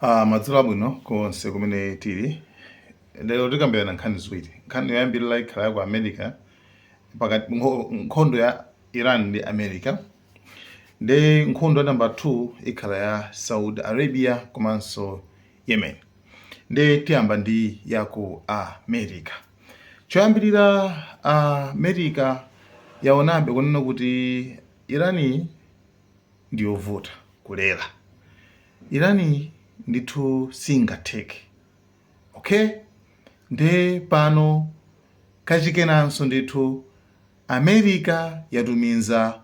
Ah, madzulo abwino konse kumene tili lero tikambirana nkhani ziwiri nkhani yoyambirira ikhala ya ku america pakati nkho- nkhondo ya iran ndi america nde nkhondo ya namba 2 ikhala ya saudi arabia komanso yemen nde tiyamba ndi ya ku america choyambirira america yaonabe kunena kuti irani ndi yovuta kulera irani ndithu singatheke ok nde pano kachikenanso ndithu america yatumiza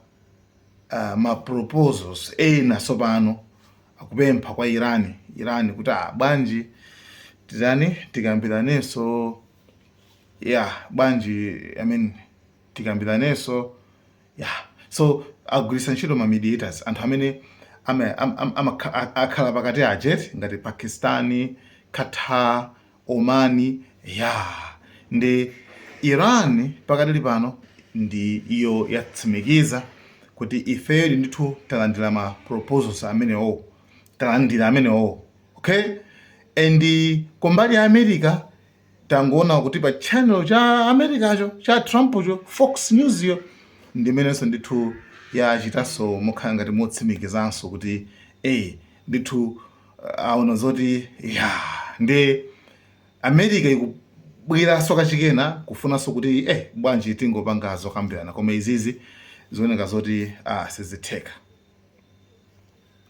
uh, ma proposals ena tsopano kupempha kwa irani irani kuti ah, bwanji titani tikambiranenso ya yeah, bwanji i mean tikambiranenso ya so agwiritsa ntchito ma mediators anthu amene ama- am- am- amakha- a- akhala pakati aja eti ngati pakistani qatar omani ya ndi iran pakadali pano nayo yatsimikiza kuti ifeyo ndithu talandira ma proposals amenewo talandira amenewo okay and kumbali ya america tangoona kuti pa channel cha americacho cha trumpcho fox newsyo ndimenenso ndithu yachitanso mokhala ngati motsimikizanso kuti e ndithu uh, aona zoti ya ndi america ikubweranso kachikena kufunanso kuti eh bwanji tingopanga zokambirana koma izizi zikuoneka zoti ah, sizitheka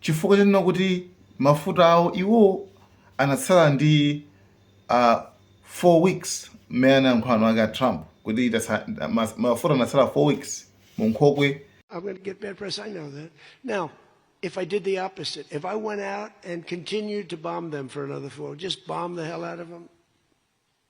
chifukwa chonena kuti mafuta awo iwo anatsala ndi a uh, 4 weeks mmene anayankhulira mwini wake a Trump kuti mafuta anatsala 4 weeks mu nkhokwe I'm going to get bad press. I know that. Now, if I did the opposite, if I went out and continued to bomb them for another four, just bomb the hell out of them,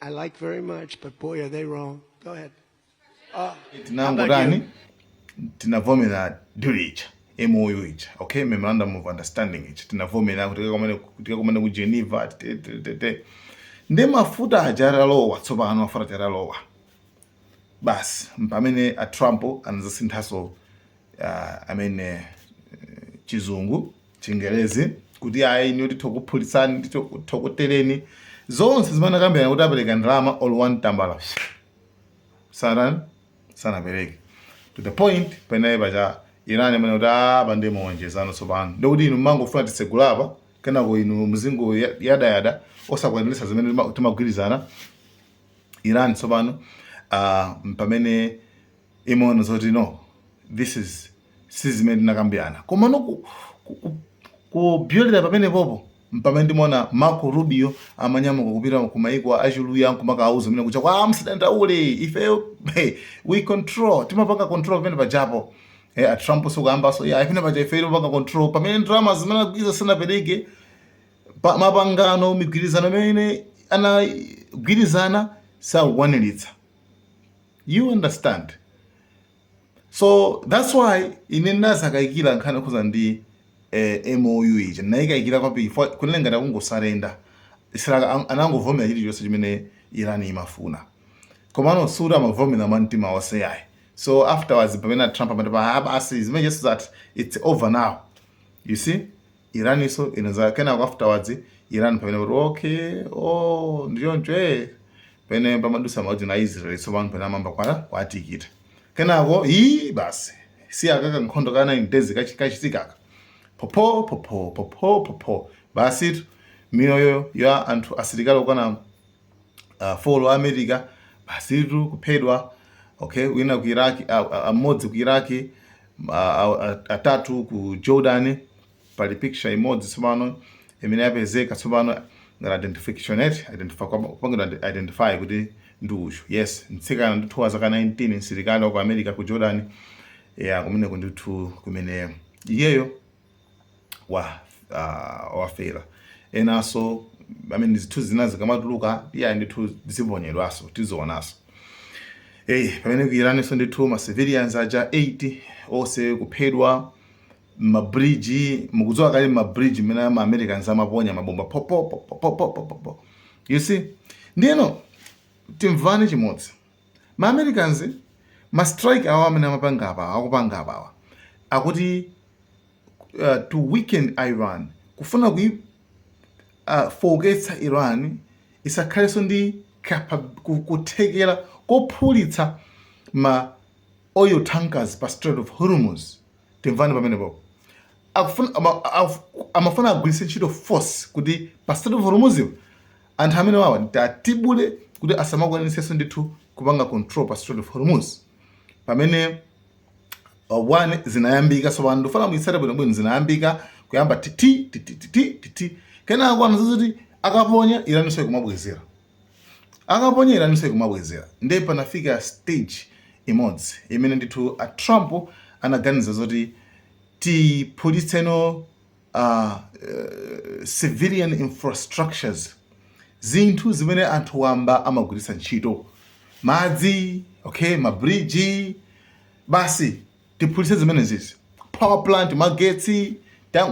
I like very much, but boy, are they wrong. Go ahead. Uh, tinangotani tinavomera deal ija mou ija okay memorandum of understanding ija tinavomera kuti tikakomane- tikakomane ku geneva te- te- te- te. nde mafuta aja atalowa tsopano mafuta aja atalowa basi mpamene a Trump anazasinthanso uh, I mean, uh, chizungu chingelezi kuti ayi niyo tithokuphulitsani tithokuteleni zonse zimene anakambirana kuti apereka ndalama olo one tambala sanan sanapereke to the point penapake paja irani amanena kuti apa ah, nde mwawonjezano tsopano ndikuti inu mmangofuna titsegule apa kenako inu mzingoyadayada osakwaniritsa zimene timagwirizana Iran tsopano uh, pamene imaona zoti no this is si zimene tinakambirana koma no kupyolera pamene popo mpamene ndimaona Marco Rubio amanyamuka kupita ku maiko achuluya nkumakawauza mmene kucha kwa musadandaule ife hey, we control timapanga control pamene pajapo hey, eh, a Trump so kuyambaso ya yeah, pamene paja ife timapanga control pamene ndalama zimene agwiza sanapereke pa- mapangano migwirizano imene anagwirizana sakukwaniritsa you understand so that's why ine ndinadzakayikira nkhani yokhudza ndi eh, mou ija ndinayikayikira kwambiri fo- kunena ngati akungosarenda israel an- anangovomera chilichonse chimene iran imafuna komano sikuti amavomera mwa mtima wonse yayi so afterwards pamene trump amati pa "Ah, basi zimene just that it's over now you see Iraniso inadza kenako afterwards Iran pamene kuti okay oh ndichoncho eh pamene pamadutsa ma UAE na Israel tsopano pamene amayamba kwa kwatikita kenako ii basi si akaka nkhondo ka 9 days kachi- kachitikaka popho popho popho popho basitu miyoyo ya anthu asilikali okwana ah, folo a america basitu kuphedwa okay wina ku iraq ah, ah, mmodzi ku iraq ah, ah, ah, atatu ku jordan pali picture imodzi tsopano imene yapezeka tsopano ngati identification yet identify kwa- kupangidwa ide- identify kuti ndi uyu yes mtsikana ndithu wa zaka 19 msilikali wa ku america ku jordan yes kumene kundithu kumene iyeyo wa uh, wafera enaso I mean zinthu zina zikamatuluka iyi ndithu ziponyedwaso tizionaso eyi hey, pamene ku Iraniso ndithu ma civilians aja 8 onse kuphedwa mabridge mukudziwa kale mabridge mmene ma americans amaponya mabomba popo popo popo popo you see ndiyeno timvane chimodzi Ma Americans ma strike awa amene amapanga apawa akupanga apawa akuti uh, to weaken Iran kufuna kui uh, fowoketsa Iran isakhalenso ndi kuthekera kophulitsa ma oil tankers pa Strait of Hormuz timvani pamenepo akufuna ama- af- amafuna agwiritse ntchito force kuti pa Strait of Hormuz anthu amene wawa tiwatibule kuti asamakwanitsenso ndithu kupanga control pa Strait of Hormuz pamene uh, one zinayambika tsopano ndifuna muitsate bwino bwino zinayambika kuyamba titi titi titi titi kenako anadzazoti akaponya iraniso ikumabwezera Akaponya Iranso ikumabwezera. Nde panafika stage imodzi imene ndithu a Trump anaganiza zoti tiphulitse no civilian infrastructures, zinthu zimene anthu wamba amagwiritsa ntchito, madzi, okay, ma bridge, basi tiphulitse zimenezizi, power plant, magetsi,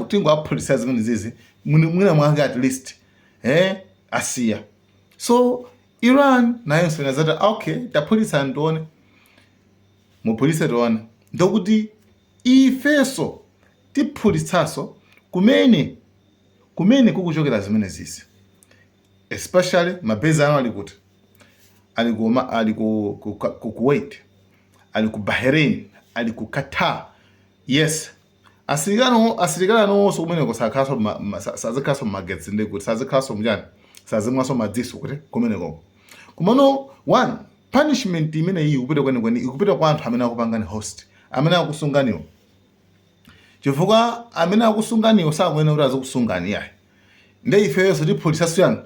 tingowaphulitsira zimenezizi mwina mwake at least. eh asiya so iran nayonso inazati okay taphulitsani tione muphulitse tione ndokuti ifeso tiphulitsaso kumene kumene kukuchokera zimenezizi especially mabesi anu ali kuti ali ku Oma- ali ku, ku, ku, ku Kuwait ali ku Bahrain ali ku Qatar yes asilikali anuwo- asilikali anuwonso kumeneko sakhalanso ma- ma- sa- sazikhalanso magetsi ndi kuti sazikhalanso m'chani sazimwanso madziso kuti kumeneko kumano one punishment imeneyi ikupita kwenikweni ikupita kwa anthu amene akupangani host amene akusunganiwo chifukwa amene akusunganiwo sakuyenera kuti azikusungani yayi nde ifeyonso tiphulisaso eyani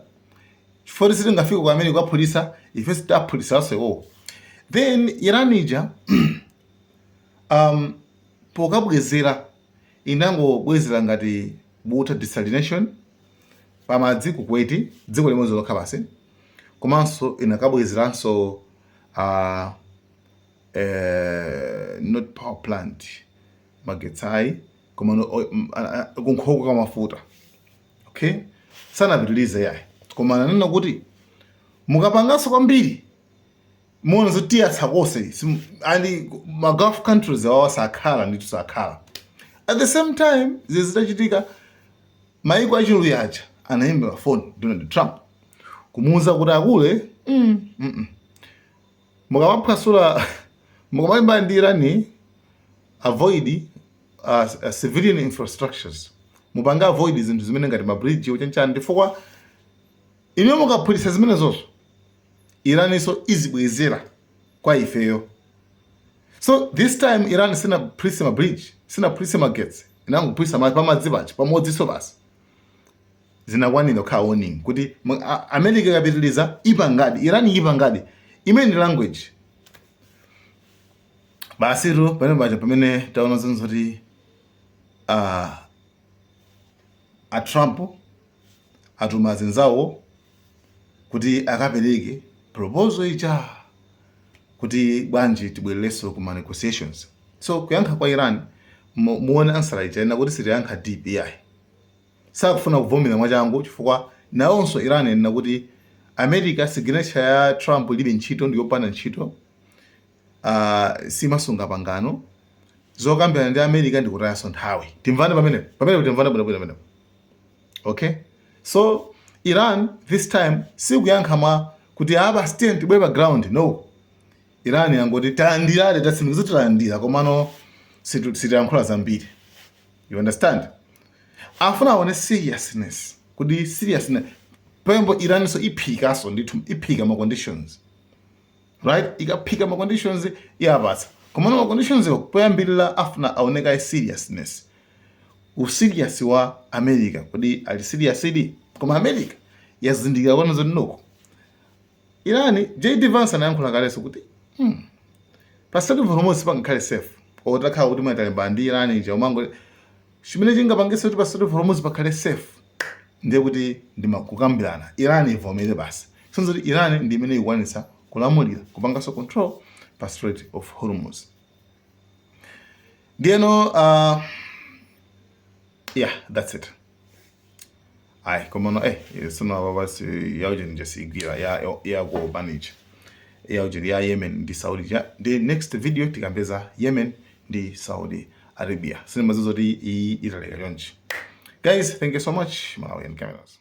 chifukwa sitingafike kwa America kukaphulisa ifeso tiphulisanso iwowo then iran ija um, Pokabwezera, inangobwezera ngati water desalination pamadzi ku Kuwait, dziko limodzi lokha basi, komanso inakabwezeranso a eeh not power plant magetsi ayi komano kunkhokwe ya mafuta okay, sanapitilize iyayi koma ananena kuti mukapanganso kwambiri muona zoti tiyatsa konse simu- and ma gulf countries awawa sakhala nditu sakhala at the same time zinthu zitachitika maiko achiluya aja anamuimbira foni donald trump kumuwuza kuti akule mm, mm, mm. mukamaphwasula mukamalimbana ndi irani avoid uh, uh, civilian infrastructures mupange avoid zinthu zimene ngati mabridge chanichani chifukwa inu mukaphulitsa zimenezozo iraninso izibwezera kwa ifeyo so this time iran sinaphulitse ma bridge sinaphulitse magetsi inangophulitsa pamadzi paja pamodziso basi zinakwanira kukhala warning kuti mu- a- america ikapitiliza ipangadi iran ipangadi i mean language basitu pamene paja pamene taona zinthu zoti ah, a trump atuma azinzawo kuti akapereke proposal ija kuti bwanji tibwerereso ku ma negotiations so kuyankha kwa Iran muone ansala ija anena kuti sitiyankha deep yayi sakufuna kuvomera mwachangu chifukwa nawonso Iran yanena kuti America signature ya Trump ilibe ntchito ndi yopanda ntchito simasunga pangano. Zokambirana ndi America ndi kutayanso nthawi. Timvane pamenepo. Pamenepo timvane bwino bwino pamenepo. Okay? So Iran this time sikuyankha mwa kuti ah basi tiye tibwere pa ground. No. Iran yangoti talandira tatsimikiza talandira komano situ- sitiyankhula zambiri. You understand? afuna aone seriousness kuti seriousness pembo iranso iphikaso ndithu iphika ma conditions right ikaphika ma conditions yapatsa komano ma conditions yo poyambirira afuna aoneka seriousness userious wa america kodi ali serious idi koma america yazindikira kwanu zonoko iran jd vance anayankhula kaleso kuti hmm, pa strait of hormuz pangakhale safe otakhala kuti mwatalimbana ndi iran ija umango Chimene chingapangise kuti pa Strait of Hormuz pakhale safe ndiye kuti ndi ma kukambirana. Iran ivomere basi. Kusonyeza kuti Iran ndi imene ikukwanitsa kulamulira, kupanganso control pa Strait of Hormuz. Ndiyeno, uh, yeah, that's it. ayi koma no eh sino ababa si ya ujeni je sigwira ya ya go manage ya ujeni ya Yemen ndi Saudi ja the next video tikambeza Yemen ndi Saudi Arabia sino mazuzo ti i italeka chonchi guys thank you so much Malawian cameras